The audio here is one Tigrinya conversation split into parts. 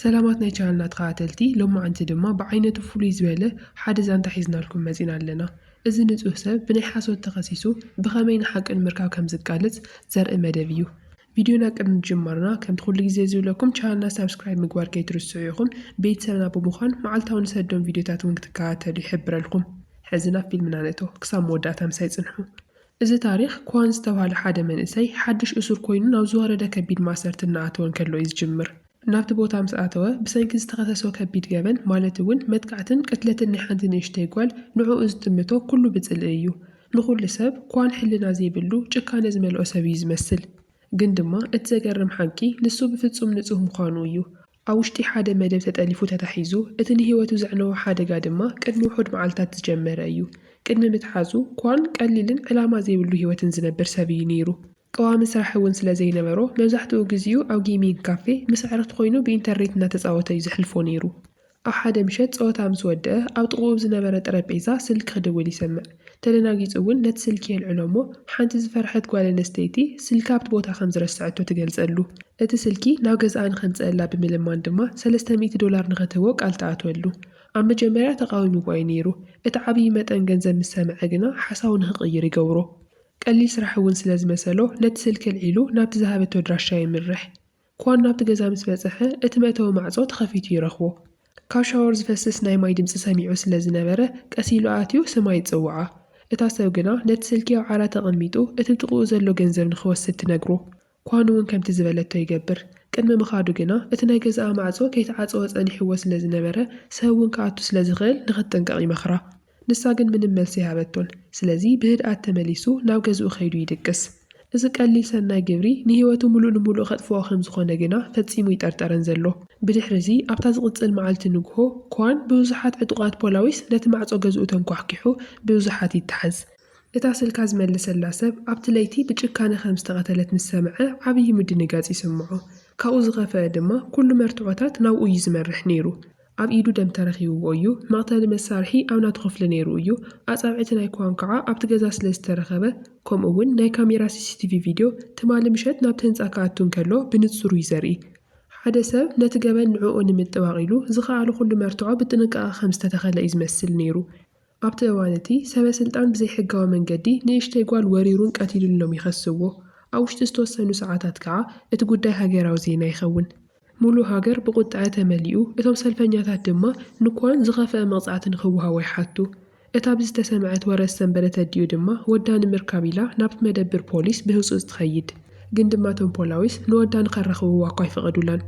ሰላማት ናይ ቻነልና ተኸታተልቲ ሎማዓንቲ ድማ ብዓይነቱ ፍሉይ ዝበለ ሓደ ዛንታ ሒዝናልኩም መጺና ኣለና እዚ ንጹህ ሰብ ብናይ ሓሶት ተኸሲሱ ብኸመይ ንሓቂ ንምርካብ ከም ዝቃለስ ዘርኢ መደብ እዩ ቪድዮና ቅድሚ ምጅማርና ከምቲ ኩሉ ግዜ ዝብለኩም ቻነልና ሳብስክራይብ ምግባር ከይትርስዑ ኢኹም ቤትሰብና ብምዃን መዓልታዊ ንሰዶም ቪድዮታት ውን ክትከታተሉ ይሕብረልኩም ሐዚ ናብ ፊልምና ንእቶ ክሳብ መወዳእታ ምሳይ ጽንሑ። እዚ ታሪኽ፣ ኳን ዝተባህለ ሓደ መንእሰይ፣ ሓድሽ እሱር ኮይኑ ናብ ዝወረደ ከቢድ ማእሰርቲ እናኣተወ እንከሎ እዩ ዝጅምር። ናብቲ ቦታ ምስ ኣተወ፣ ብሰንኪ ዝተኸሰሶ ከቢድ ገበን፣ ማለት እውን መጥቃዕትን ቅትለትን ናይ ሓንቲ ንእሽተይ ጓል፣ ንዕኡ ዝጥምቶ ኩሉ ብጽልኢ እዩ። ንኹሉ ሰብ፣ ኳን ሕልና ዘይብሉ፣ ጭካነ ዝመልኦ ሰብ እዩ ዝመስል። ግን ድማ እቲ ዘገርም ሓቂ፣ ንሱ ብፍጹም ንጹህ ምዃኑ እዩ። ኣብ ውሽጢ ሓደ መደብ ተጠሊፉ ተታሒዙ፣ እቲ ንህይወቱ ዘዕነዎ ሓደጋ ድማ ቅድሚ ውሑድ መዓልታት ዝጀመረ እዩ። ቅድሚ ምትሓዙ፣ ኳን ቀሊልን ዕላማ ዘይብሉ ህይወትን ዝነብር ሰብ እዩ ነይሩ። ቀዋሚ ስራሕ እውን ስለ ዘይነበሮ፣ መብዛሕትኡ ግዜኡ ኣብ ጌይሚንግ ካፌ ምስ ኣዕሩኽቱ ኰይኑ ብኢንተርኔት እናተጻወተ እዩ ዘሕልፎ ነይሩ። ኣብ ሓደ ምሸት ጸወታ ምስ ወድኣ፣ ኣብ ጥቓኡ ኣብ ዝነበረ ጠረጴዛ ስልኪ ክድውል ይሰምዕ። ተደናጊጹ እውን ነቲ ስልኪ የልዕሎ እሞ ሓንቲ ዝፈርሐት ጓል ኣንስተይቲ ስልካ ኣብቲ ቦታ ከም ዝረሰዐቶ ትገልጸሉ። እቲ ስልኪ ናብ ገዛኣ ንኸምጽኣላ ብምልማን ድማ ሰለስተ ሚእቲ ዶላር ንኸትህቦ ቃል ትኣትወሉ። ኣብ መጀመርያ ተቓዊምዎ እዩ ነይሩ። እቲ ዓብዪ መጠን ገንዘብ ምስ ሰምዐ ግና ሓሳቡ ንኽቕይር ይገብሮ። ቀሊል ስራሕ እውን ስለ ዝመሰሎ ነቲ ስልኪ ኣልዒሉ ናብቲ ዝሃበቶ ኣድራሻ የምርሕ። ኳን ናብቲ ገዛ ምስ በጽሐ፣ እቲ መእተዊ ማዕጾ ተኸፊቱ ይረኽቦ። ካብ ሻወር ዝፈስስ ናይ ማይ ድምጺ ሰሚዑ ስለ ዝነበረ፣ ቀስ ኢሉ ኣትዩ ስማ ይጽውዓ። እታ ሰብ ግና ነቲ ስልኪ ኣብ ዓራት ኣቐሚጡ እቲ ጥቕኡ ዘሎ ገንዘብ ንኽወስድ ትነግሮ። ኳን'ውን ከምቲ ዝበለቶ ይገብር። ቅድሚ ምኻዱ ግና እቲ ናይ ገዛኣ ማዕጾ ከይተዓጸወ ጸኒሕዎ ስለ ዝነበረ፣ ሰብ'ውን ክኣቱ ስለ ዝኽእል ንኽትጥንቀቕ ይመኽራ። ንሳ ግን ምንም መልሲ ኣይሃበቶን። ስለዚ ብህድኣት ተመሊሱ ናብ ገዝኡ ከይዱ ይድቅስ። እዚ ቀሊል ሰናይ ግብሪ ንህይወቱ ምሉእ ንምሉእ ከጥፍኦ ከም ዝዀነ ግና ፈጺሙ ኣይጠርጠረን ዘሎ። ብድሕሪ'ዚ ኣብታ ዝቕጽል መዓልቲ ንግሆ፣ ኳን ብብዙሓት ዕጡቓት ፖላዊስ ነቲ ማዕጾ ገዝኡ ተንኳሕኲሑ ብብዙሓት ይተሓዝ። እታ ስልካ ዝመለሰላ ሰብ ኣብቲ ለይቲ ብጭካነ ከም ዝተቐተለት ምስ ሰምዐ ዓብዪ ምድንጋጽ ይስምዖ። ካብኡ ዝኸፈኣ ድማ ኵሉ መርትዖታት ናብኡ እዩ ዝመርሕ ነይሩ። ኣብ ኢዱ ደም ተረኺብዎ እዩ። መቕተሊ መሳርሒ ኣብ ናቱ ክፍሊ ነይሩ እዩ። ኣጻብዕቲ ናይ ክዋን ከኣ ኣብቲ ገዛ ስለ ዝተረኸበ ከምኡ'ውን ናይ ካሜራ ሲሲቲቪ ቪድዮ ትማሊ ምሸት ናብቲ ህንጻ ክኣቱ እንከሎ ብንጹር እዩ ዘርኢ። ሓደ ሰብ ነቲ ገበን ንዕኡ ንምጥባቕ ኢሉ ዝኸኣሎ ኩሉ መርትዖ ብጥንቃቐ ከም ዝተተኸለ እዩ ዝመስል ነይሩ። ኣብቲ እዋን እቲ፣ ሰበ ስልጣን ብዘይሕጋዊ መንገዲ ንእሽተይ ጓል ወሪሩን ቀቲሉን ኢሎም ይኸስዎ። ኣብ ውሽጢ ዝተወሰኑ ሰዓታት ከኣ እቲ ጉዳይ ሃገራዊ ዜና ይኸውን። ምሉእ ሃገር ብቑጠዐ ተመሊኡ፣ እቶም ሰልፈኛታት ድማ ንኳን ዝኸፈኣ መቕጻዕቲ ንኽወሃቦ ይሓቱ። እታ ብዝተሰምዐት ወረ ዝሰንበደ ተዲኡ ድማ ወዳ ንምርካብ ኢላ ናብቲ መደብር ፖሊስ ብህጹጽ ትኸይድ። ግን ድማ እቶም ፖላዊስ ንወዳ ንኸረኽብዋ'ኳ ኣይፈቐዱላን።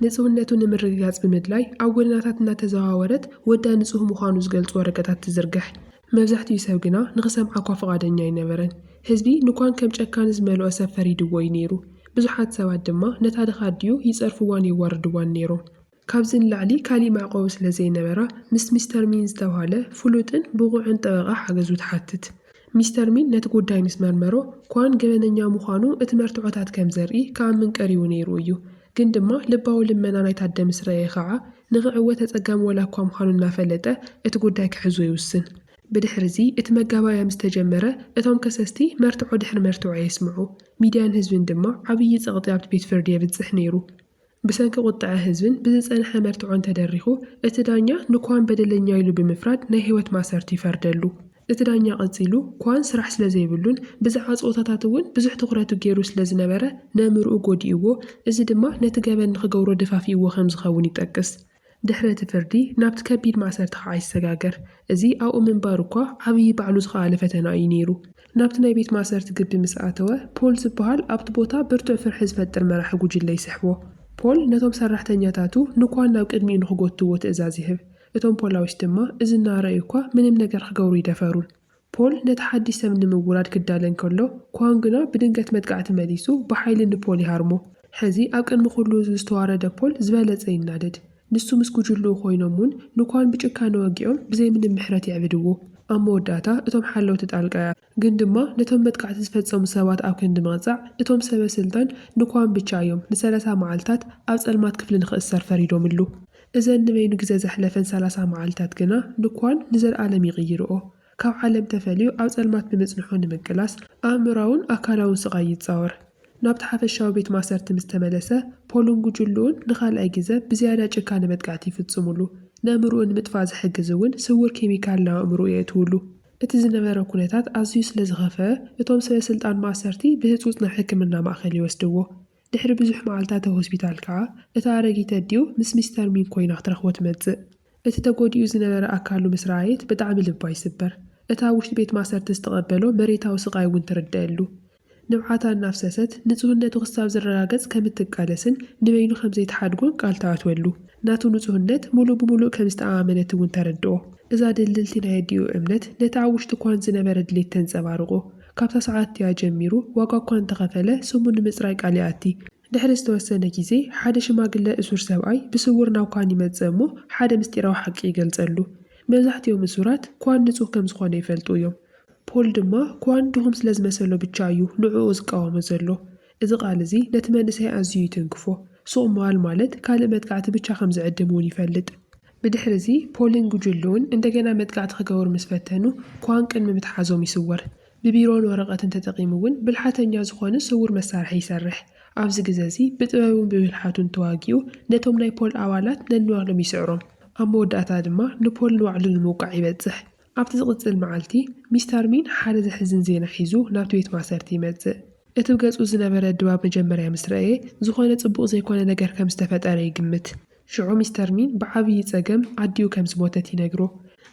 ንጽህነቱ ንምርግጋጽ ብምድላይ ኣብ ጎደናታት እናተዘዋወረት ወዳ ንጹህ ምዃኑ ዝገልጹ ወረቀታት ትዝርግሕ። መብዛሕትኡ ሰብ ግና ንኽሰምዓ'ኳ ፍቓደኛ ኣይነበረን። ህዝቢ ንኳን ከም ጨካን ዝመልኦ ሰብ ፈሪድዎ እዩ ነይሩ። ብዙሓት ሰባት ድማ ነታ ድኻ ኣዲኡ ይጸርፍዋን የዋርድዋን ነይሮም። ካብዚ ንላዕሊ ካሊእ መዕቆቢ ስለ ዘይነበራ ምስ ሚስተር ሚን ዝተብሃለ ፍሉጥን ብቑዕን ጠበቓ ሓገዙ ትሓትት። ሚስተር ሚን ነቲ ጉዳይ ምስ መርመሮ፣ ኳን ገበነኛ ምዃኑ እቲ መርትዖታት ከም ዘርኢ ክኣምን ቀሪቡ ነይሩ እዩ። ግን ድማ ልባዊ ልመና ናይቲ ኣደ ምስ ረኣየ ኸኣ፣ ንኽዕወት ኣጸጋሚ ዋላ እኳ ምዃኑ እናፈለጠ፣ እቲ ጉዳይ ክሕዞ ይውስን። ብድሕርዚ እቲ መጋባእያ ምስ ተጀመረ፣ እቶም ከሰስቲ መርትዖ ድሕሪ መርትዖ የስምዑ። ሚድያን ህዝብን ድማ ዓብዪ ጸቕጢ ኣብቲ ቤት ፍርዲ የብጽሕ ነይሩ። ብሰንኪ ቁጠዐ ህዝብን ብዝጸንሐ መርትዖን ተደሪኹ፣ እቲ ዳኛ ንኳን በደለኛ ኢሉ ብምፍራድ ናይ ህይወት ማእሰርቲ ይፈርደሉ። እቲ ዳኛ ቀጺሉ፣ ኳን ስራሕ ስለዘይብሉን ብዛዕባ ጸወታታት እውን ብዙሕ ትኹረቱ ገይሩ ስለዝነበረ ነምርኡ ጎዲእዎ፣ እዚ ድማ ነቲ ገበን ንኽገብሮ ደፋፊእዎ ከምዝኸውን ይጠቅስ። ድሕሪ እቲ ፍርዲ ናብቲ ከቢድ ማእሰርቲ ኸኣ ይሰጋገር። እዚ ኣብኡ ምንባሩ እኳ ዓብዪ ባዕሉ ዝኸኣለ ፈተና እዩ ነይሩ። ናብቲ ናይ ቤት ማእሰርቲ ግቢ ምስ ኣተወ፣ ፖል ዝበሃል ኣብቲ ቦታ ብርቱዕ ፍርሒ ዝፈጥር መራሒ ጉጅለ ይስሕቦ። ፖል ነቶም ሰራሕተኛታቱ ንኳን ናብ ቅድሚኡ ንኽጎትትዎ ትእዛዝ ይህብ። እቶም ፖላዊስ ድማ እዚ እናረኣዩ እኳ ምንም ነገር ክገብሩ ኣይደፈሩን። ፖል ነቲ ሓድሽ ሰብ ንምውራድ ክዳለ እንከሎ፣ ኳን ግና ብድንገት መጥቃዕቲ መሊሱ ብሓይሊ ንፖል ይሃርሞ። ሕዚ ኣብ ቅድሚ ኵሉ ህዝቢ ዝተዋረደ ፖል ዝበለጸ ይናደድ። ንሱ ምስ ጕጅልኡ ኰይኖም እውን ንኳን ብጭካነ ወጊኦም ብዘይ ምንም ምሕረት የዕብድዎ። ኣብ መወዳእታ እቶም ሓለውቲ ጣልቃ ይኣትዉ። ግን ድማ ነቶም መጥቃዕቲ ዝፈጸሙ ሰባት ኣብ ክንዲ ምቕጻዕ፣ እቶም ሰበስልጣን ንኳን ብቻ እዮም ንሰላሳ መዓልታት ኣብ ጸልማት ክፍሊ ንኽእሰር ፈሪዶምሉ። እዘን ንበይኑ ግዘ ዘሕለፈን ሰላሳ መዓልታት ግና ንኳን ንዘልኣለም ይቕይርኦ። ካብ ዓለም ተፈልዩ ኣብ ፀልማት ብምፅንሑ ንምቅላስ ኣእምሮኣውን ኣካላውን ስቓይ ይፃወር። ናብቲ ሓፈሻዊ ቤት ማእሰርቲ ምስ ተመለሰ ፖልን ጉጅልኡን ንኻልኣይ ግዘ ብዝያዳ ጭካነ መጥቃዕቲ ይፍፅሙሉ። ነእምርኡ ንምጥፋእ ዝሕግዝ እውን ስውር ኬሚካል ናብ ኣእምርኡ የእትውሉ። እቲ ዝነበረ ኩነታት ኣዝዩ ስለዝኸፈኣ እቶም ሰበስልጣን ማእሰርቲ ብህፁፅ ናብ ሕክምና ማእኸል ይወስድዎ። ድሕሪ ብዙሕ መዓልታት ኣብ ሆስፒታል ከኣ፣ እታ ኣረጊት ኣዲኡ ምስ ሚስተር ሚንግ ኮይና ክትረኽቦ ትመጽእ። እቲ ተጎዲኡ ዝነበረ ኣካሉ ምስ ረኣየት ብጣዕሚ ልባ ይስበር። እቲ ኣብ ውሽጢ ቤት ማእሰርቲ ዝተቐበሎ መሬታዊ ስቓይ እውን ትርደኣሉ። ንብዓታ እናፍሰሰት፣ ንጹህነቱ ክሳብ ዝረጋገጽ ከም እትቃለስን ንበይኑ ከም ዘይትሓድጎን ቃል ትኣትወሉ። ናቱ ንጹህነት ምሉእ ብምሉእ ከም ዝተኣማመነት እውን ተረድኦ። እዛ ድልድልቲ ናይ ኣዲኡ እምነት ነቲ ኣብ ውሽጡ ኳን ዝነበረ ድሌት ተንጸባርቖ። ካብታ ሰዓት'ቲኣ ጀሚሩ ዋጋ እኳ እንተኸፈለ ስሙ ንምጽራይ ቃል ይኣቲ። ድሕሪ ዝተወሰነ ግዜ ሓደ ሽማግለ እሱር ሰብኣይ ብስውር ናብ ኳን ይመጽእ እሞ ሓደ ምስጢራዊ ሓቂ ይገልጸሉ። መብዛሕትኦም እሱራት ኳን ንጹህ ከም ዝኾነ ይፈልጡ እዮም። ፖል ድማ ኳን ድኹም ስለ ዝመሰሎ ብቻ እዩ ንዕኡ ዝቃወሞ ዘሎ። እዚ ቃል እዚ ነቲ መንእሰይ ኣዝዩ ይትንክፎ። ሱቕ ምባል ማለት ካልእ መጥቃዕቲ ብቻ ከም ዝዕድም እውን ይፈልጥ። ብድሕሪዚ ፖልን ጉጅልኡን እንደገና መጥቃዕቲ ክገብሩ ምስ ፈተኑ ኳን ቅድሚ ምትሓዞም ይስወር። ብቢሮን ወረቐትን ተጠቒሙ እውን ብልሓተኛ ዝኾነ ስውር መሳርሒ ይሰርሕ። ኣብዚ ግዘ እዚ ብጥበቡን ብብልሓቱን ተዋጊኡ ነቶም ናይ ፖል ኣባላት ነንባዕሎም ይስዕሮም። ኣብ መወዳእታ ድማ ንፖል ንባዕሉ ንምውቃዕ ይበፅሕ። ኣብቲ ዝቕጽል መዓልቲ፣ ሚስተር ሚን ሓደ ዘሕዝን ዜና ሒዙ ናብቲ ቤት ማእሰርቲ ይመጽእ። እቲ ብ ገጹ ዝነበረ ድባብ መጀመርያ ምስ ረኣየ፣ ዝኾነ ጽቡቕ ዘይኮነ ነገር ከም ዝተፈጠረ ይግምት። ሽዑ ሚስተር ሚን ብዓብዪ ጸገም ኣዲኡ ከም ዝሞተት ይነግሮ።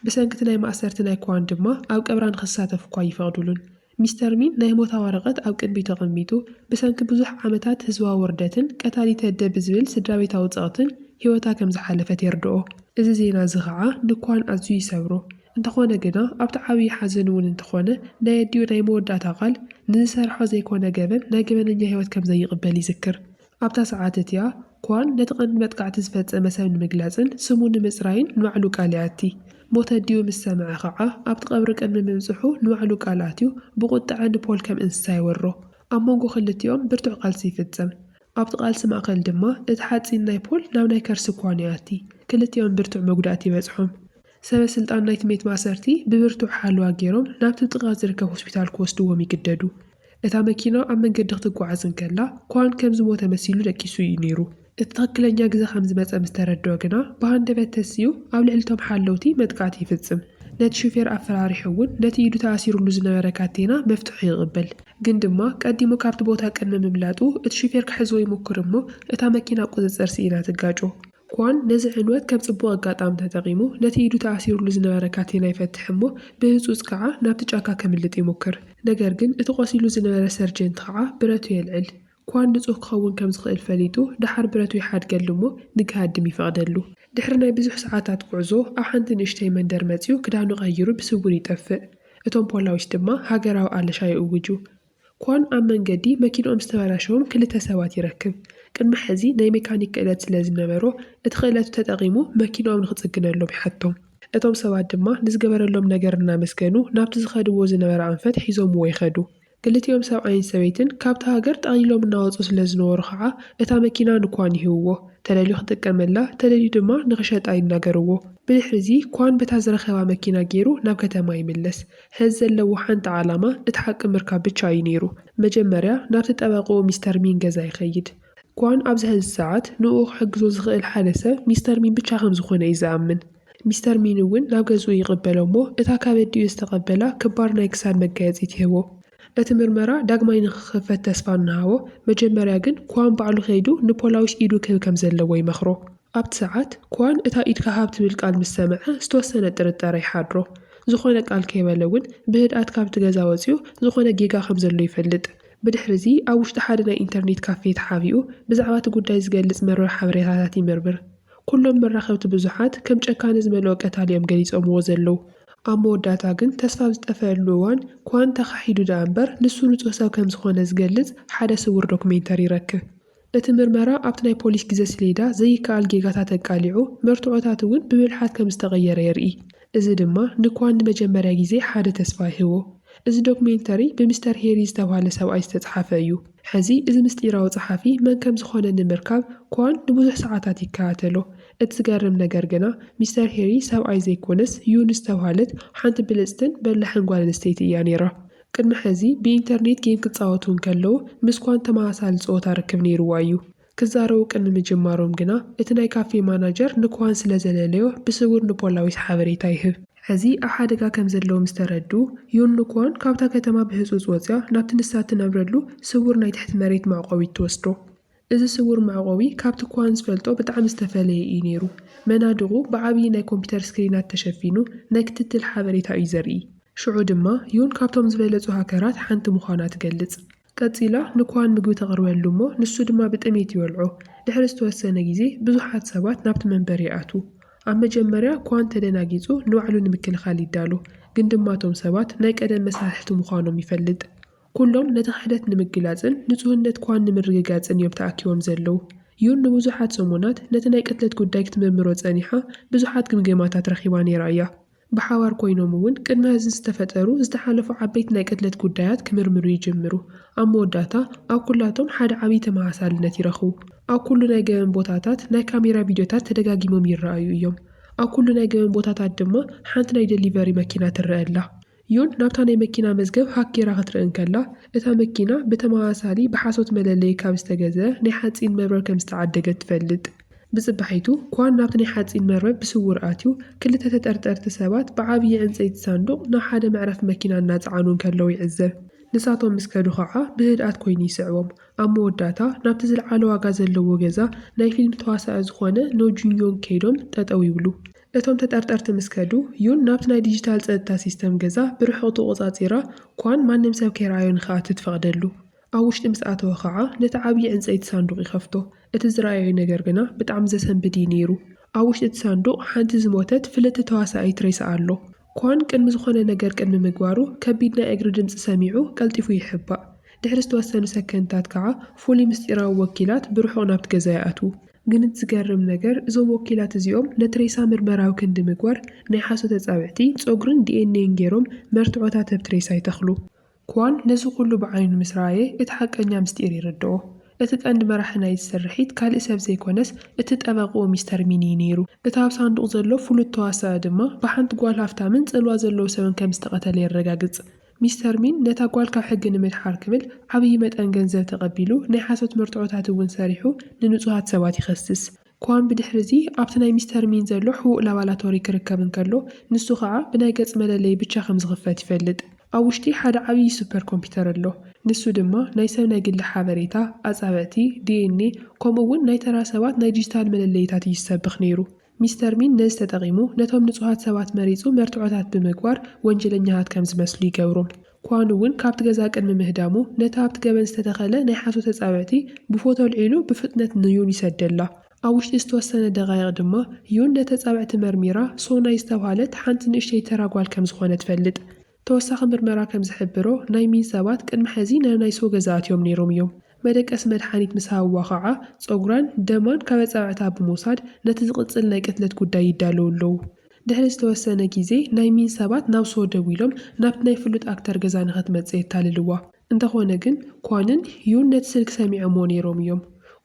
ብሰንኪ'ቲ ናይ ማእሰርቲ ናይ ክዋን ድማ ኣብ ቀብራ ንኽሳተፍ'ኳ ኣይፈቕድሉን። ሚስተር ሚን ናይ ሞታ ወረቐት ኣብ ቅድሚቱ ኣቐሚጡ፣ ብሰንኪ ብዙሕ ዓመታት ህዝባዊ ውርደትን ቀታሊት ኣደ ብዝብል ስድራቤታዊ ጸቕትን ህይወታ ከም ዝሓለፈት የርድኦ። እዚ ዜና'ዚ ኸኣ ንኳን ኣዝዩ ይሰብሮ። እንተኾነ ግና ኣብቲ ዓብዪ ሓዘን እውን እንተኾነ ናይ ኣዲኡ ናይ መወዳእታ ቃል፣ ንዝሰርሖ ዘይኮነ ገበን ናይ ገበነኛ ህይወት ከም ዘይቕበል ይዝክር። ኣብታ ሰዓት እቲኣ፣ ኳን ነቲ ቀንዲ መጥቃዕቲ ዝፈጸመ ሰብ ንምግላጽን ስሙ ንምጽራይን ንባዕሉ ቃል ይኣቲ። ሞት ኣዲኡ ምስ ሰምዐ ኸኣ፣ ኣብቲ ቀብሪ ቅድሚ ምብጽሑ ንባዕሉ ቃል ኣትዩ ብቑጥዐ ንፖል ከም እንስሳ ይወሮ። ኣብ መንጎ ክልቲኦም ብርቱዕ ቃልሲ ይፍጸም። ኣብቲ ቃልሲ ማእከል ድማ እቲ ሓጺን ናይ ፖል ናብ ናይ ከርሲ ኳን ይኣቲ። ክልቲኦም ብርቱዕ መጉዳእቲ ይበጽሖም። ሰበ ስልጣን ናይቲ ቤት ማእሰርቲ ብብርቱዕ ሓለዋ ገይሮም ናብቲ ጥቓ ዝርከብ ሆስፒታል ክወስድዎም ይግደዱ። እታ መኪና ኣብ መንገዲ ክትጓዓዝ እንከላ፣ ኳን ከም ዝሞተ መሲሉ ደቂሱ እዩ ነይሩ። እቲ ትኽክለኛ ግዘ ከም ዝመጸ ምስ ተረድኦ ግና፣ ብሃንደበት ተሲኡ ኣብ ልዕሊ'ቶም ሓለውቲ መጥቃዕቲ ይፍጽም። ነቲ ሹፌር ኣፈራሪሑ እውን ነቲ ኢዱ ተኣሲሩሉ ዝነበረ ካቴና መፍትሑ ይቕበል። ግን ድማ ቀዲሙ ካብቲ ቦታ ቅድሚ ምምላጡ፣ እቲ ሹፌር ክሕዞ ይሙኩር እሞ እታ መኪና ቁጽጽር ስኢና ትጋጮ። ኳን ነዚ ዕንወት ከም ጽቡቕ ኣጋጣሚ ተጠቒሙ፣ ነቲ ኢዱ ተኣሲሩሉ ዝነበረ ካቴና ይፈትሕ እሞ ብህጹጽ ከኣ ናብቲ ጫካ ከምልጥ ይሙክር። ነገር ግን እቲ ቆሲሉ ዝነበረ ሰርጀንት ከኣ ብረቱ የልዕል። ኳን ንጹህ ክኸውን ከም ዝኽእል ፈሊጡ ደሓር ብረቱ ይሓድገሉ እሞ ንግሃድም ይፈቕደሉ። ድሕሪ ናይ ብዙሕ ሰዓታት ጉዕዞ ኣብ ሓንቲ ንእሽተይ መንደር መጺኡ ክዳኑ ቀይሩ ብስውር ይጠፍእ። እቶም ፖላዊስ ድማ ሃገራዊ ኣለሻ ይእውጁ። ኮን ኣብ መንገዲ መኪንኦም ዝተበላሸዎም ክልተ ሰባት ይረክብ። ቅድሚ ሕዚ ናይ ሜካኒክ ክእለት ስለ ዝነበሮ፣ እቲ ክእለቱ ተጠቒሙ መኪንኦም ንኽጽግነሎም ይሓቶም። እቶም ሰባት ድማ ንዝገበረሎም ነገር እናመስገኑ ናብቲ ዝኸድዎ ዝነበረ ኣንፈት ሒዞምዎ ይኸዱ። ክልቲኦም ሰብኣይን ሰበይትን ካብታ ሃገር ጠቕሊሎም እናወጹ ስለ ዝነበሩ ኸኣ እታ መኪና ንኳን ይህብዎ። ተደልዩ ክጥቀመላ ተደልዩ ድማ ንኽሸጣ ይናገርዎ። ብድሕሪ'ዚ ኳን በታ ዝረኸባ መኪና ገይሩ ናብ ከተማ ይምለስ። ሐዚ ዘለዎ ሓንቲ ዓላማ እቲ ሓቂ ምርካብ ብቻ እዩ ነይሩ መጀመርያ ናብቲ ጠበቅኡ ሚስተር ሚን ገዛ ይኸይድ ኳን ኣብዚ ሐዚ ሰዓት ንኡ ክሕግዞ ዝኽእል ሓደ ሰብ ሚስተር ሚን ብቻ ከምዝኾነ እዩ ዝኣምን ሚስተር ሚን እውን ናብ ገዝኡ ይቅበሎ እሞ እታ ካብ ኣዲኡ ዝተቀበላ ክባር ናይ ክሳድ መጋየፂ ትህቦ እቲ ምርመራ ዳግማይ ንክኽፈት ተስፋ እናሃቦ መጀመርያ ግን ኳን ባዕሉ ከይዱ ንፖላዊስ ኢዱ ክህብ ከምዘለዎ ይመኽሮ። ኣብቲ ሰዓት፣ ክዋን እታ ኢድካ ሃብ ትብል ቃል ምስ ሰምዐ ዝተወሰነ ጥርጠረ ይሓድሮ። ዝኾነ ቃል ከይበለ እውን ብህድኣት ካብቲ ገዛ ወጺኡ ዝኾነ ጌጋ ከም ዘሎ ይፈልጥ። ብድሕሪዚ ኣብ ውሽጢ ሓደ ናይ ኢንተርኔት ካፌ ተሓቢኡ ብዛዕባ እቲ ጉዳይ ዝገልጽ መርበብ ሓበሬታታት ይምርምር። ኩሎም መራኸብቲ ብዙሓት ከም ጨካነ ዝመልኦ ቀታሊ እዮም ገሊጾምዎ ዘለዉ። ኣብ መወዳእታ ግን ተስፋ ኣብ ዝጠፈኣሉ እዋን ክዋን ተኻሒዱ ደኣ እምበር ንሱ ንጹህ ሰብ ከም ዝኾነ ዝገልጽ ሓደ ስዉር ዶክሜንተሪ ይረክብ። እቲ ምርመራ ኣብቲ ናይ ፖሊስ ግዜ ሰሌዳ ዘይከኣል ጌጋታት ኣቃሊዑ፣ መርትዖታት እውን ብብልሓት ከም ዝተቐየረ የርኢ። እዚ ድማ ንኳን ንመጀመርያ ግዜ ሓደ ተስፋ ይህቦ። እዚ ዶክሜንተሪ ብሚስተር ሄሪ ዝተብሃለ ሰብኣይ ዝተጽሓፈ እዩ። ሕዚ እዚ ምስጢራዊ ጸሓፊ መን ከም ዝዀነ ንምርካብ ኳን ንብዙሕ ሰዓታት ይከታተሎ። እቲ ዝገርም ነገር ግና ሚስተር ሄሪ ሰብኣይ ዘይኰነስ ዩን ዝተብሃለት ሓንቲ ብልጽትን በላሕን ጓል ኣንስተይቲ እያ ነይራ። ቅድሚ ሕዚ ብኢንተርኔት ጌም ክጻወቱ እንከለዉ ምስ ኳን ተመሳሳሊ ጸወታ ርክብ ነይርዎ እዩ። ክዛረቡ ቅድሚ ምጅማሮም ግና እቲ ናይ ካፌ ማናጀር ንኳን ስለ ዘለለዮ ብስዉር ንፖላዊስ ሓበሬታ ይህብ። ሕዚ ኣብ ሓደጋ ከም ዘለዉ ምስ ተረድኡ፣ ዩን ንኳን ካብታ ከተማ ብህጹጽ ወጺኣ ናብቲ ንሳ እትነብረሉ ስዉር ናይ ትሕቲ መሬት መዕቆቢት ትወስዶ። እዚ ስዉር መዕቆቢ ካብቲ ኳን ዝፈልጦ ብጣዕሚ ዝተፈለየ እዩ ነይሩ። መናድቑ ብዓብዪ ናይ ኮምፒተር ስክሪናት ተሸፊኑ ናይ ክትትል ሓበሬታ እዩ ዘርኢ። ሽዑ ድማ ዩን ካብቶም ዝበለጹ ሃከራት ሓንቲ ምዃና ትገልጽ። ቀጺላ ንኳን ምግቢ ተቕርበሉ እሞ ንሱ ድማ ብጥሜት ይበልዖ። ድሕሪ ዝተወሰነ ግዜ ብዙሓት ሰባት ናብቲ መንበር ይኣትዉ። ኣብ መጀመርያ ኳን ተደናጊጹ ንባዕሉ ንምክልኻል ይዳሎ፣ ግን ድማ እቶም ሰባት ናይ ቀደም መሳርሕቲ ምዃኖም ይፈልጥ። ኩሎም ነቲ ክሕደት ንምግላጽን ንጹህነት ኳን ንምርግጋጽን እዮም ተኣኪቦም ዘለዉ። ዩን ንብዙሓት ሰሙናት ነቲ ናይ ቅትለት ጉዳይ ክትምርምሮ ጸኒሓ ብዙሓት ግምገማታት ረኺባ ነይራ እያ። ብሓባር ኮይኖም እውን ቅድሚ ሀዚ ዝተፈጠሩ ዝተሓለፉ ዓበይቲ ናይ ቅትለት ጉዳያት ክምርምሩ ይጅምሩ። ኣብ መወዳእታ ኣብ ኩላቶም ሓደ ዓብዪ ተመሳሳልነት ይረኽቡ። ኣብ ኩሉ ናይ ገበን ቦታታት ናይ ካሜራ ቪድዮታት ተደጋጊሞም ይረኣዩ እዮም። ኣብ ኩሉ ናይ ገበን ቦታታት ድማ ሓንቲ ናይ ደሊቨሪ መኪና ትረኣ ኣላ። ዮን ናብታ ናይ መኪና መዝገብ ሃክ ገይራ ክትርኢ እንከላ፣ እታ መኪና ብተመሳሳሊ ብሓሶት መለለዪ ካብ ዝተገዝአ ናይ ሓጺን መርበብ ከም ዝተዓደገት ትፈልጥ። ብጽባሒቱ፣ ኳን ናብቲ ናይ ሓጺን መርበብ ብስዉር ኣትዩ፣ ክልተ ተጠርጠርቲ ሰባት ብዓብዪ ዕንጸይቲ ሳንዱቕ ናብ ሓደ መዕረፊ መኪና እናጸዓኑ እንከለዉ ይዕዘብ። ንሳቶም ምስ ከዱ ኸኣ ብህድኣት ኰይኑ ይስዕቦም። ኣብ መወዳእታ፣ ናብቲ ዝልዓለ ዋጋ ዘለዎ ገዛ ናይ ፊልም ተዋሳኢ ዝዀነ ኖ ጁን ዮንግ ከይዶም ጠጠው ይብሉ። እቶም ተጠርጠርቲ ምስ ከዱ፣ ዩን ናብቲ ናይ ዲጂታል ጸጥታ ሲስተም ገዛ ብርሑቕ ተቖጻጺራ፣ ኳን ማንም ሰብ ከይረኣዮ ንኽኣቱ ትፈቕደሉ። ኣብ ውሽጢ ምስ ኣተወ ኸኣ ነቲ ዓብዪ ዕንጸይቲ ሳንዱቕ ይኸፍቶ። እቲ ዝረኣዮ ነገር ግና ብጣዕሚ ዘሰንብድ እዩ ነይሩ። ኣብ ውሽጢ እቲ ሳንዱቕ ሓንቲ ዝሞተት ፍልጥቲ ተዋሳኢት ሬሳ ኣሎ። ኳን ቅድሚ ዝኾነ ነገር ቅድሚ ምግባሩ ከቢድ ናይ እግሪ ድምጺ ሰሚዑ ቀልጢፉ ይሕባእ። ድሕሪ ዝተወሰኑ ሰከንድታት ከኣ ፍሉይ ምስጢራዊ ወኪላት ብርሑቕ ናብቲ ገዛ ይኣትዉ። ግን እቲ ዝገርም ነገር እዞም ወኪላት እዚኦም ነቲ ሬሳ ምርመራዊ ክንዲ ምግባር ናይ ሓሶት ኣጻብዕቲ፣ ጸጉርን ዲኤንኤን ገይሮም መርትዖታት ኣብቲ ሬሳ ይተኽሉ። ክዋን ነዚ ኩሉ ብዓይኑ ምስ ረኣየ እቲ ሓቀኛ ምስጢር ይርድኦ። እቲ ቀንዲ መራሒ ናይዚ ስርሒት ካልእ ሰብ ዘይኮነስ እቲ ጠበቕኡ ሚስተር ሚን እዩ ነይሩ። እቲ ኣብ ሳንዱቕ ዘሎ ፍሉጥ ተዋሳኢ ድማ ብሓንቲ ጓል ሃፍታምን ጽልዋ ዘለዎ ሰብን ከም ዝተቐተለ የረጋግጽ። ሚስተር ሚን ነታ ጓል ካብ ሕጊ ንምድሓር ክብል ዓብዪ መጠን ገንዘብ ተቐቢሉ ናይ ሓሶት መርትዖታት እውን ሰሪሑ ንንጹሃት ሰባት ይኸስስ። ኳን ብድሕሪ'ዚ ኣብቲ ናይ ሚስተር ሚን ዘሎ ሕቡእ ላባላቶሪ ክርከብ እንከሎ፣ ንሱ ኸኣ ብናይ ገጽ መለለዪ ብቻ ከም ዝኽፈት ይፈልጥ። ኣብ ውሽጢ ሓደ ዓብዪ ሱፐር ኮምፒተር ኣሎ፣ ንሱ ድማ ናይ ሰብ ናይ ግሊ ሓበሬታ፣ ኣጻብዕቲ፣ ዲኤንኤ፣ ከምኡ እውን ናይ ተራ ሰባት ናይ ዲጂታል መለለዪታት እዩ ዝሰብኽ ነይሩ። ሚስተር ሚን ነዚ ተጠቒሙ ነቶም ንጹሃት ሰባት መሪጹ መርትዖታት ብምግባር ወንጀለኛታት ከም ዝመስሉ ይገብሮም። ኳን እውን ካብቲ ገዛ ቅድሚ ምህዳሙ ነታ ኣብቲ ገበን ዝተተኸለ ናይ ሓሶት ተጻብዕቲ ብፎቶ ኣልዒሉ ብፍጥነት ንዩን ይሰደላ። ኣብ ውሽጢ ዝተወሰነ ደቓይቕ ድማ ዩን ነቲ ኣጻብዕቲ መርሚራ ሶናይ ዝተብሃለት ሓንቲ ንእሽተይ ተራ ጓል ከም ዝኾነ ትፈልጥ። ተወሳኺ ምርመራ ከም ዝሕብሮ፣ ናይ ሚን ሰባት ቅድሚ ሕዚ ናብ ናይ ሰው ገዛ ኣትዮም ነይሮም እዮም። መደቀሲ መድሓኒት ምስ ሃብዋ ኸዓ ፀጉራን ደማን ካብ ኣፃብዕታ ብምውሳድ ነቲ ዝቕፅል ናይ ቅትለት ጉዳይ ይዳለዉ ኣለዉ። ድሕሪ ዝተወሰነ ጊዜ ናይ ሚን ሰባት ናብ ሰው ደዊሎም ናብቲ ናይ ፍሉጥ ኣክተር ገዛ ንኸትመፅእ የታልልዋ። እንተኾነ ግን ኳንን ዩን ነቲ ስልኪ ሰሚዖምዎ ነይሮም እዮም።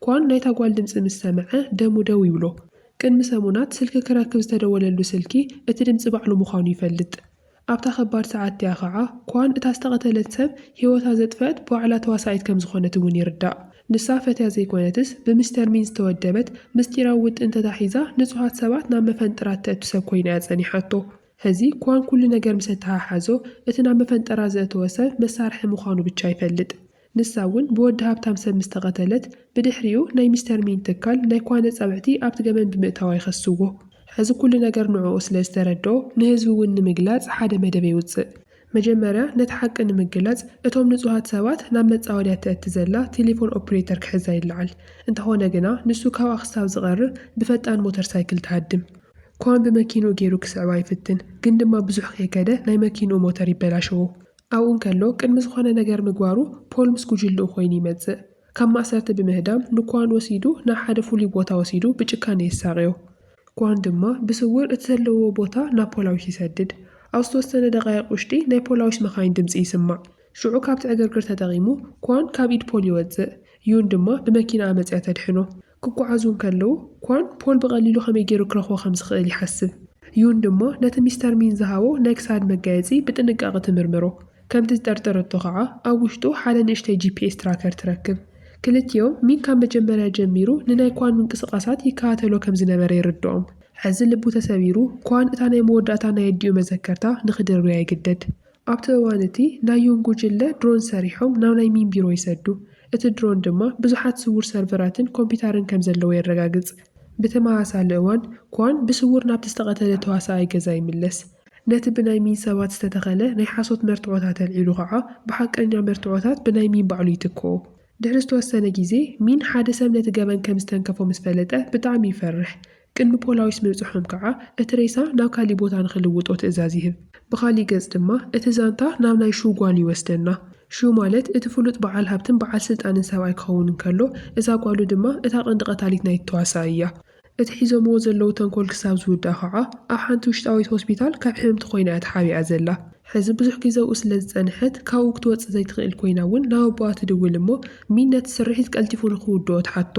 ኳን ናይታ ጓል ድምፂ ምስ ሰምዐ ደሙ ደው ይብሎ። ቅድሚ ሰሙናት ስልኪ ክረክብ ዝተደወለሉ ስልኪ እቲ ድምፂ ባዕሉ ምዃኑ ይፈልጥ። ኣብታ ከባድ ሰዓት እቲኣ ከኣ ኳን እታ ዝተቐተለት ሰብ ህይወታ ዘጥፈኣት ባዕላ ተዋሳኢት ከም ዝኾነት እውን ይርዳእ። ንሳ ፈትያ ዘይኮነትስ ብሚስተር ሚን ዝተወደበት ምስጢራዊ ውጥን ተታሒዛ ንጹሃት ሰባት ናብ መፈንጥራ እተእቱ ሰብ ኮይና እያ ጸኒሓቶ። ሕዚ ኳን ኩሉ ነገር ምስ ኣተሓሓዞ እቲ ናብ መፈንጠራ ዘእተወ ሰብ መሳርሒ ምዃኑ ብቻ ይፈልጥ። ንሳ እውን ብወዲ ሃብታም ሰብ ምስ ተቐተለት፣ ብድሕሪኡ ናይ ሚስተር ሚን ትካል ናይ ኳነ ጸብዕቲ ኣብቲ ገበን ብምእታዋ ይኸስዎ። ሕዚ ኩሉ ነገር ንዕኡ ስለ ዝተረድኦ፣ ንህዝቢ እውን ንምግላጽ ሓደ መደብ የውጽእ። መጀመርያ ነቲ ሓቂ ንምግላጽ፣ እቶም ንጹሃት ሰባት ናብ መጻወድያ እተእቲ ዘላ ቴሌፎን ኦፕሬተር ክሕዛ ይለዓል። እንተኾነ ግና ንሱ ካብኣ ክሳብ ዝቐርብ ብፈጣን ሞተር ሳይክል ትሃድም። ኳን ብመኪንኡ ገይሩ ክስዕባ ይፍትን፣ ግን ድማ ብዙሕ ከይከደ ናይ መኪንኡ ሞተር ይበላሸዎ። ኣብኡ እንከሎ ቅድሚ ዝኾነ ነገር ምግባሩ ፖል ምስ ጉጅልኡ ኮይኑ ይመጽእ። ካብ ማእሰርቲ ብምህዳም ንኳን ወሲዱ ናብ ሓደ ፍሉይ ቦታ ወሲዱ ብጭካኔ የሳቕዮ። ኳን ድማ ብስውር እቲ ዘለውዎ ቦታ ናብ ፖላዊስ ይሰድድ። ኣብ ዝተወሰነ ደቓይቕ ውሽጢ ናይ ፖላዊስ መኻይን ድምጺ ይስማዕ። ሽዑ ካብቲ ዕግርግር ተጠቒሙ ኳን ካብ ኢድ ፖል ይወጽእ። ዩን ድማ ብመኪናኣ መጺኣ ተድሕኖ። ክጓዓዙ እንከለዉ፣ ኳን፣ ፖል ብቐሊሉ ከመይ ገይሩ ክረኽቦ ከም ዝኽእል ይሓስብ። ዩን ድማ ነቲ ሚስተር ሚን ዝሃቦ ናይ ክሳድ መጋየጺ ብጥንቃቐ ትምርምሮ። ከምቲ ዝጠርጠረቶ ኸኣ፣ ኣብ ውሽጡ ሓደ ንእሽተይ ጂፒኤስ ትራከር ትረክብ። ክልቲኦም፣ ሚን ካብ መጀመርያ ጀሚሩ ንናይ ኳን ምንቅስቓሳት ይከታተሎ ከም ዝነበረ ይርድኦም። ሕዚ ልቡ ተሰቢሩ፣ ኳን እታ ናይ መወዳእታ ናይ ኣዲኡ መዘከርታ ንኽድርብያ ይግደድ። ኣብቲ እዋን እቲ፣ ናይ ዩን ጉጅለ ድሮን ሰሪሖም ናብ ናይ ሚን ቢሮ ይሰዱ። እቲ ድሮን ድማ ብዙሓት ስዉር ሰርቨራትን ኮምፒታርን ከም ዘለዎ የረጋግጽ። ብተመሳሳሊ እዋን፣ ኳን ብስዉር ናብቲ ዝተቐተለ ተዋሳኣይ ገዛ ይምለስ። ነቲ ብናይ ሚን ሰባት ዝተተኸለ ናይ ሓሶት መርትዖታት ኣልዒሉ ኸኣ ብሓቀኛ መርትዖታት ብናይ ሚን ባዕሉ ይትክኦ። ድሕሪ ዝተወሰነ ግዜ፣ ሚን ሓደ ሰብ ነቲ ገበን ከም ዝተንከፎ ምስ ፈለጠ ብጣዕሚ ይፈርሕ። ቅድሚ ፖላዊስ ምብጽሖም ከኣ እቲ ሬሳ ናብ ካሊእ ቦታ ንኽልውጦ ትእዛዝ ይህብ። ብኻሊእ ገጽ ድማ እቲ ዛንታ ናብ ናይ ሹ ጓል ይወስደና። ሹ ማለት እቲ ፍሉጥ በዓል ሃብትን በዓል ስልጣንን ሰብኣይ ክኸውን እንከሎ፣ እዛ ጓሉ ድማ እታ ቀንዲ ቀታሊት ናይቲ ተዋሳኣይ እያ። እቲ ሒዞምዎ ዘለዉ ተንኮል ክሳብ ዝውዳእ ከኣ ኣብ ሓንቲ ውሽጣዊት ሆስፒታል ካብ ሕምምቲ ኮይና እያ ተሓቢኣ ዘላ። ሕዚ ብዙሕ ግዜ ኣብኡ ስለ ዝጸንሐት ካብኡ ክትወጽእ ዘይትኽእል ኮይና እውን ናብ ኣቦኣ ትድውል እሞ ሚን ነቲ ስርሒት ቀልጢፉ ንኽውድኦ ትሓቶ።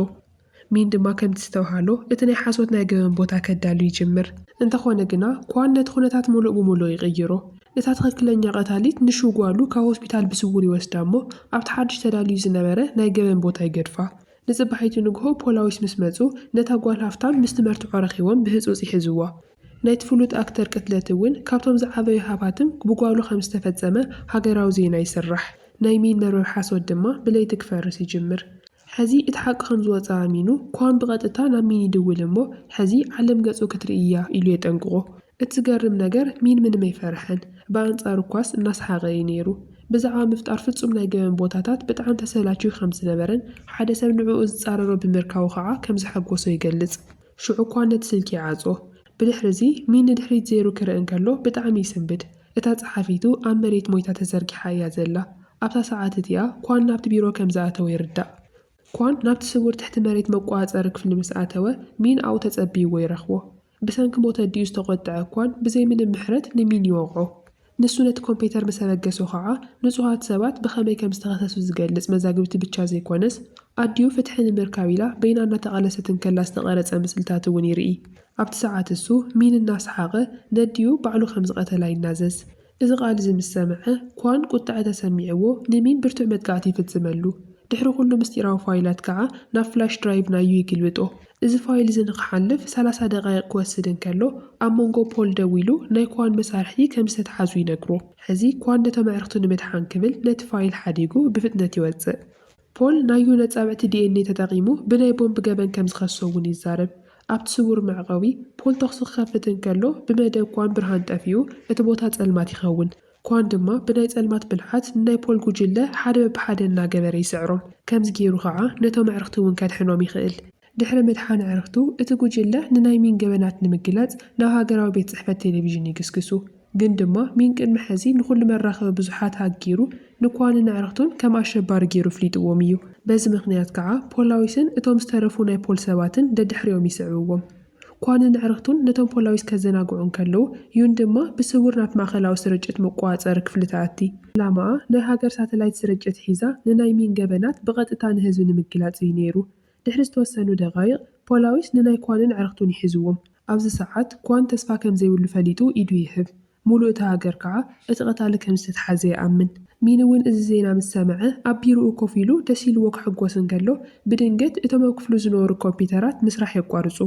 ሚን ድማ ከምቲ ዝተባህሎ እቲ ናይ ሓሶት ናይ ገበን ቦታ ከዳሉ ይጅምር። እንተኾነ ግና ኳን ነቲ ኩነታት ሙሉእ ብሙሉእ ይቕይሮ። እታ ትኽክለኛ ቀታሊት ንሹ ጓሉ ካብ ሆስፒታል ብስውር ይወስዳ እሞ ኣብቲ ሓድሽ ተዳልዩ ዝነበረ ናይ ገበን ቦታ ይገድፋ። ንጽባሒቱ ንግሆ ፖላዊስ ምስ መጹ ነታ ጓል ሃፍታም ምስቲ መርትዖ ረኺቦም ብህጹጽ ይሕዝዋ። ናይቲ ፍሉጥ ኣክተር ቅትለት እውን ካብቶም ዝዓበዩ ሃባትም ብጓሉ ከም ዝተፈጸመ ሃገራዊ ዜና ይስራሕ። ናይ ሚን መርበብ ሓሶት ድማ ብለይቲ ክፈርስ ይጅምር። ሕዚ እቲ ሓቂ ከም ዝወጽኣ ኣሚኑ፣ ኳን ብቐጥታ ናብ ሚን ይድውል እሞ፣ ሕዚ ዓለም ገጹ ክትርኢ እያ ኢሉ የጠንቅቖ። እቲ ዝገርም ነገር ሚን ምንም ኣይፈርሐን። ብኣንጻሩ'ኳስ እናሰሓቐ እዩ ነይሩ። ብዛዕባ ምፍጣር ፍጹም ናይ ገበን ቦታታት ብጣዕሚ ተሰላችዩ ከም ዝነበረን ሓደ ሰብ ንዕኡ ዝጻረሮ ብምርካቡ ከኣ ከም ዘሐጎሶ ይገልጽ። ሽዑ ኳን ነቲ ስልኪ ይዓጽዎ። ብድሕሪ'ዚ ሚን ንድሕሪት ዘይሩ ክርኢ እንከሎ ብጣዕሚ ይስንብድ። እታ ጸሓፊቱ ኣብ መሬት ሞይታ ተዘርጊሓ እያ ዘላ። ኣብታ ሰዓት እቲኣ ኳን ናብቲ ቢሮ ከም ዝኣተወ ይርዳእ። ኳን ናብቲ ስዉር ትሕቲ መሬት መቆጻጸሪ ክፍሊ ምስ ኣተወ፣ ሚን ኣብኡ ተጸብይዎ ይረኽቦ። ብሰንኪ ሞት ኣዲኡ ዝተቖጥዐ ኳን ብዘይ ምንም ምሕረት ንሚን ይወቕዖ። ንሱ ነቲ ኮምፔተር ምስ ኣበገሶ ከኣ ንጹሃት ሰባት ብኸመይ ከም ዝተኸሰሱ ዝገልጽ መዛግብቲ ብቻ ዘይኮነስ ኣዲኡ ፍትሒ ንምርካብ ኢላ በይና እናተቓለሰት እንከላ ዝተቐረጸ ምስልታት እውን ይርኢ። ኣብቲ ሰዓት እሱ ሚን እናሰሓቐ ነዲኡ ባዕሉ ከም ዝቐተላ ይናዘዝ። እዚ ቃል እዚ ምስ ሰምዐ ኳን ቁጥዐ ተሰሚዕዎ ንሚን ብርቱዕ መጥቃዕቲ ይፍጽመሉ። ድሕሪ ኩሉ ምስጢራዊ ፋይላት ከኣ ናብ ፍላሽ ድራይቭ ናዩ ይግልብጦ። እዚ ፋይል እዚ ንኽሓልፍ ሰላሳ ደቓይቕ ክወስድ እንከሎ፣ ኣብ መንጎ ፖል ደው ኢሉ ናይ ኳን መሳርሕቲ ከም ዝተትሓዙ ይነግሮ። ሕዚ ኳን ነቶም ኣዕርኽቱ ንምድሓን ክብል ነቲ ፋይል ሓዲጉ ብፍጥነት ይወጽእ። ፖል ናዩ ነጻብዕቲ ዲኤንኤ ተጠቒሙ ብናይ ቦምብ ገበን ከም ዝኸሶ እውን ይዛረብ። ኣብቲ ስዉር መዕቘቢ፣ ፖል ተዅሲ ክኸፍት እንከሎ ብመደብ ኳን ብርሃን ጠፊኡ እቲ ቦታ ጸልማት ይኸውን። ኳን ድማ ብናይ ጸልማት ብልሓት ንናይ ፖል ጉጅለ ሓደ በብሓደ እናገበረ ይስዕሮም። ከምዚ ገይሩ ከኣ ነቶም ኣዕርኽቲ እውን ከድሕኖም ይኽእል። ድሕሪ ምድሓን ኣዕርኽቱ፣ እቲ ጉጅለ ንናይ ሚን ገበናት ንምግላጽ ናብ ሃገራዊ ቤት ጽሕፈት ቴሌቪዥን ይግስግሱ። ግን ድማ ሚን ቅድሚ ሕዚ ንኹሉ መራኸቢ ብዙሓት ሃክ ገይሩ ንኳንን ኣዕርኽቱን ከም ኣሸባሪ ገይሩ ኣፍሊጥዎም እዩ። በዚ ምኽንያት ከኣ ፖላዊስን እቶም ዝተረፉ ናይ ፖል ሰባትን ደድሕሪኦም ይስዕብዎም። ኳንን ኣዕርኽቱን ነቶም ፖላዊስ ከዘናግዑ እንከለዉ፣ ዩን ድማ ብስውር ናብ ማእከላዊ ስርጭት መቆጻጸሪ ክፍሊ ትኣቲ። ዕላማኣ ናይ ሃገር ሳተላይት ስርጭት ሒዛ ንናይ ሚን ገበናት ብቐጥታ ንህዝቢ ንምግላጽ እዩ ነይሩ። ድሕሪ ዝተወሰኑ ደቓይቕ፣ ፖላዊስ ንናይ ኳንን ኣዕርኽቱን ይሕዝዎም። ኣብዚ ሰዓት፣ ኳን ተስፋ ከም ዘይብሉ ፈሊጡ ኢዱ ይህብ። ሙሉእ እቲ ሃገር ከኣ እቲ ቀታሊ ከም ዝተትሓዘ ይኣምን። ሚኒ እውን እዚ ዜና ምስ ሰምዐ ኣብ ቢሮኡ ኮፍ ኢሉ ደስ ኢልዎ ክሕጎስ እንከሎ ብድንገት እቶም ኣብ ክፍሉ ዝነበሩ ኮምፒተራት ምስራሕ የቋርጹ።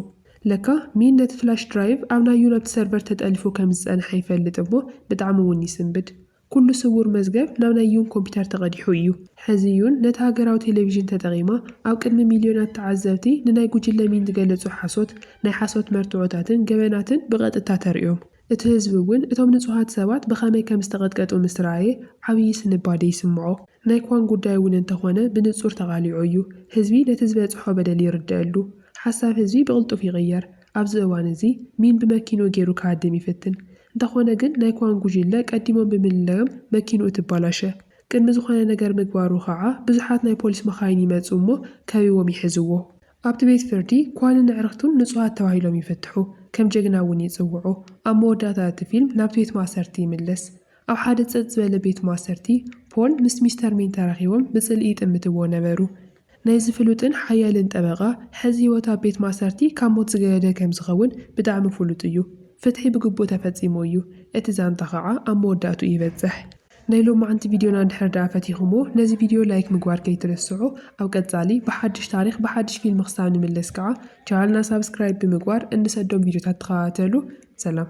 ለካ ሚን ነቲ ፍላሽ ድራይቭ ኣብ ናይ ዩነብት ሰርቨር ተጠሊፉ ከም ዝጸንሐ ይፈልጥ እሞ ብጣዕሚ እውን ይስንብድ። ኩሉ ስውር መዝገብ ናብ ናይ ዩን ኮምፒተር ተቐዲሑ እዩ። ሕዚ ዩን ነቲ ሃገራዊ ቴሌቪዥን ተጠቒማ ኣብ ቅድሚ ሚልዮናት ተዓዘብቲ ንናይ ጉጅለ ሚን ዝገለጹ ሓሶት፣ ናይ ሓሶት መርትዖታትን ገበናትን ብቐጥታ ተርእዮም። እቲ ህዝቢ እውን እቶም ንጹሃት ሰባት ብኸመይ ከም ዝተቐጥቀጡ ምስ ረኣየ ዓብዪ ስንባደ ይስምዖ። ናይ ክዋን ጉዳይ እውን እንተኾነ ብንጹር ተቓሊዑ እዩ። ህዝቢ ነቲ ዝበጽሖ በደል ይርደኣሉ። ሓሳብ ህዝቢ ብቕልጡፍ ይቕየር። ኣብዚ እዋን እዚ ሚን ብመኪንኡ ገይሩ ክሃድም ይፍትን። እንተኾነ ግን ናይ ክዋን ጉጅለ ቀዲሞም ብምልላዮም መኪንኡ ትባላሸ። ቅድሚ ዝኾነ ነገር ምግባሩ ከኣ ብዙሓት ናይ ፖሊስ መኻይን ይመጽኡ እሞ ከቢቦም ይሕዝዎ። ኣብቲ ቤት ፍርዲ ኳንን ኣዕርኽቱን ንጹሃት ተባሂሎም ይፍትሑ፣ ከም ጀግና እውን ይጽውዑ። ኣብ መወዳእታ እቲ ፊልም ናብቲ ቤት ማእሰርቲ ይምለስ። ኣብ ሓደ ጸጥ ዝበለ ቤት ማእሰርቲ፣ ፖል ምስ ሚስተር ሚን ተራኺቦም ብጽልኢ ይጥምትዎ ነበሩ። ናይዚ ፍሉጥን ሓያልን ጠበቓ ሕዚ ህይወት ኣብ ቤት ማእሰርቲ ካብ ሞት ዝገደደ ከም ዝኸውን ብጣዕሚ ፍሉጥ እዩ። ፍትሒ ብግቡእ ተፈጺሙ እዩ፣ እቲ ዛንታ ኸኣ ኣብ መወዳእትኡ ይበጽሕ። ናይ ሎማዓንቲ ቪድዮና እንድሕር ድኣ ፈቲኹምዎ ነዚ ቪድዮ ላይክ ምግባር ከይትርስዑ ኣብ ቀጻሊ ብሓድሽ ታሪኽ ብሓድሽ ፊልም ክሳብ ንምለስ ከኣ ቻናልና ሳብስክራይብ ብምግባር እንሰዶም ቪድዮታት ተኸታተሉ ሰላም።